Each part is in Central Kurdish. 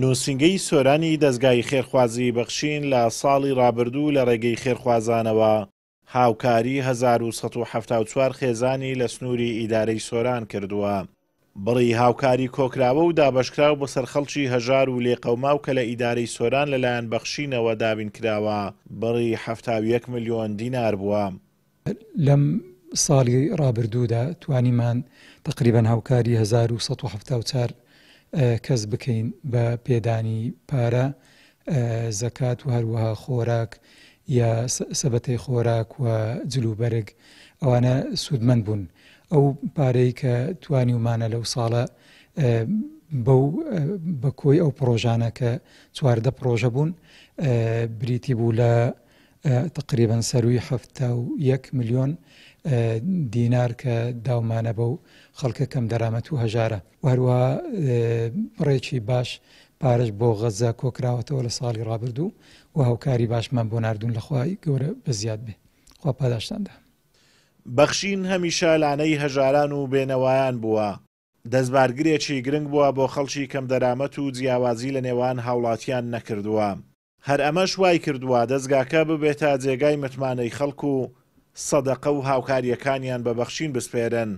نووسینگەی سۆرانی دەزگای خێرخوازی بەخشین لە ساڵی ڕابردوو لە ڕێگەی خێرخوازانەوە، هاوکاری هەزار و سەد و حەفتا و چوار خێزانی لە سنووری ئیدارەی سۆران کردووە. بڕی هاوکاری کۆکراوە و دابەشکراو بەسەر خەڵکی هەژار و لێقەوماو کە لە ئیدارەی سۆران لەلایەن بەخشینەوە دابین کراوە، بڕی حەفتا و یەک ملیۆن دینار بووە. لەم ساڵی ڕابردوودا توانیمان تەقریبەن هاوکاری هەزار و سەد و حەفتا و چار کەس بکەین بە پێدانی پارە، زەکات و هەروەها خۆراک یا سەبەتەی خۆراک و جلوبەرگ، ئەوانە سوودمەند بوون. ئەو پارەی کە توانیومانە لەو ساڵە بەو بە کۆی ئەو پڕۆژانە کە چواردە پڕۆژە بوون بریتی بوو لە تەقریبەن سەرووی حەفتا و یەک ملیۆن دینار کە داومانە بەو خەڵکە کەم دەرامەت و هەژارە و هەروە بڕێکی باش پارەش بۆ غەزە کۆکراوەتەوە لە ساڵی ڕابردوو و هاوکاری باشمان بۆ نردون لەخوای گەورە بە زیاد بێ خوا پاداشتاندا. بەخشین هەمیشە لانەی هەژاران و بێنەوایان بووە، دەستبارگرێکی گرنگ بووە بۆ خەڵکی کەمدەرامەت و جیاوازی لەنێوان هاوڵاتیان نەکردووە. هەر ئەمەش وایکردووە دەزگاکە ببێتە جێگای متمانەی خەڵک و سەدەقە و هاوکارییەکانیان بە بەخشین بسپێرن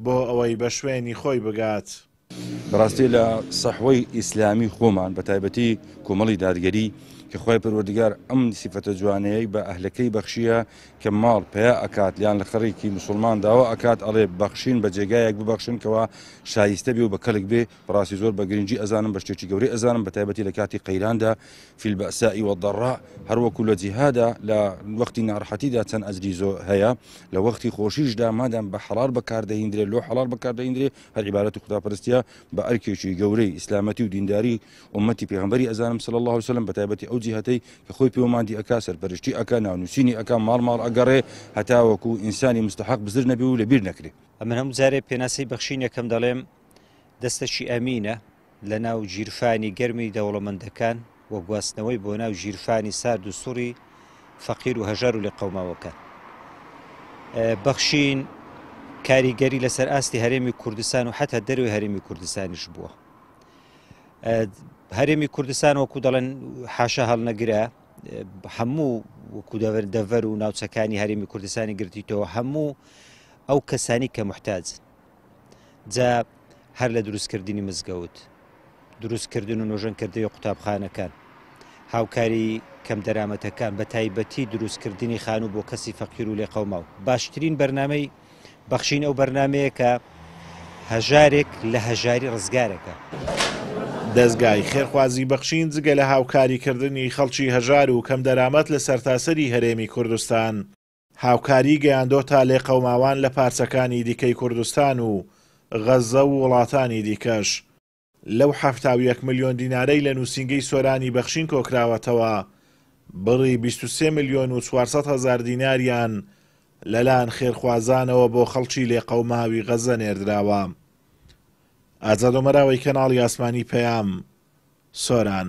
بۆ ئەوەی بە شوێنی خۆی بگات. بەڕاستی لە سەحوەی ئیسلامی خۆمان بە تایبەتی کۆمەڵی دادگەری کە خوای پەروەردگار ئەم سیفەتە جوانەیەی بە ئەهلەکەی بەخشیە کە ماڵ پەیا ئەکات یان لە خەڕیکی مسوڵمان داوا ئەکات ئەڵێ بەخشین بە جێگایەک ببەخشن کەوا شایستە بێ و بە کەڵک بێ بەڕاستی زۆر بە گرنگی ئەزانم بە شتێکی گەورەی ئەزانم بە تایبەتی لە کاتی قەیراندا فیل بەسائی وەدەڕا هەروەکو لە جیهادا لە وەختی ناڕحەتیدا چەند ئەجری زۆر هەیە لە وەختی خۆشیشدا مادام بە حەڵار بەکاردەهیندرێت لۆ حەڵار بەکاردەهیندرێ هەر عیبارەت و خوداپەرستە بە ئەرکێکی گەورەی ئیسلامەتی و دینداری ئومەتی پێغمبەری ئەزانم سل الله وسلم بە تایبەتی ئەو جیهەتەی کە خۆی پێوەماندی ئەک سەرپەرشتی ئەک ناونووسینی ئەک ماڵ ماڵ ئەگەڕێ هەتاوەکو ئینسانی مستحق بزر نەبی و لەبیر نەکرێ ئەمن هەموو جارێ پێناسی بەخشینەکەم دەڵێم دەستەکی ئەمینە لە ناو گیرفانی گەرمی دەوڵەمەندەکان و گواستنەوەی بۆ ناو گیرفانی سارد و سوڕی فەقیر و هەژار و لە قەوماوەکە بەخشین کاریگەری لەسەر ئاستی هەرێمی کوردستان و حتا دەروی هەرێمی کوردستانیش بووە هەرێمی کوردستان وەکو دەڵێن حاشا هەڵنەگرە هەموو وەکو دەڤەر دەڤەر و ناوچەکانی هەرێمی کوردستانی گرتیتەوە هەموو ئەو کەسانی کە محتاجن جا هەر لە دروستکردنی مزگەوت دروستکردن و نۆژەنکردنی قوتابخانەکان هاوکاری کەم دەرامەتەکان بە تایبەتی دروستکردنی خان و بۆ کەسی فەقیر و لێقەوماو باشترین بەرنمەی بەخشین ئەو بەرنمەیە کە هەژارێک لە هەژاری ڕزگارەکە. دەزگای خێرخوازی بەخشین جگە لە هاوکاریکردنی خەڵکی هەژار و کەم دەرامەت لە سەرتاسەری هەرێمی کوردستان، هاوکاری گەیاندۆتە لێقەوماوان لە پارچەکانی دیکەی کوردستان و غەززە و وڵاتانی دیکەش. لەو حەفتا و یەک ملیۆن دینارەی لە نووسینگەی سۆرانی بەخشین کۆکراوەتەوە، بڕی بیست و سێ ملیۆن و چوار سەد هەزار دیناریان لەلایەن خێرخوازانەوە بۆ خەڵکی لێقەوماوی غەززە نێردراوە. ئازاد ئۆمەراوەی کەناڵی ئاسمانی پەیام، سۆران.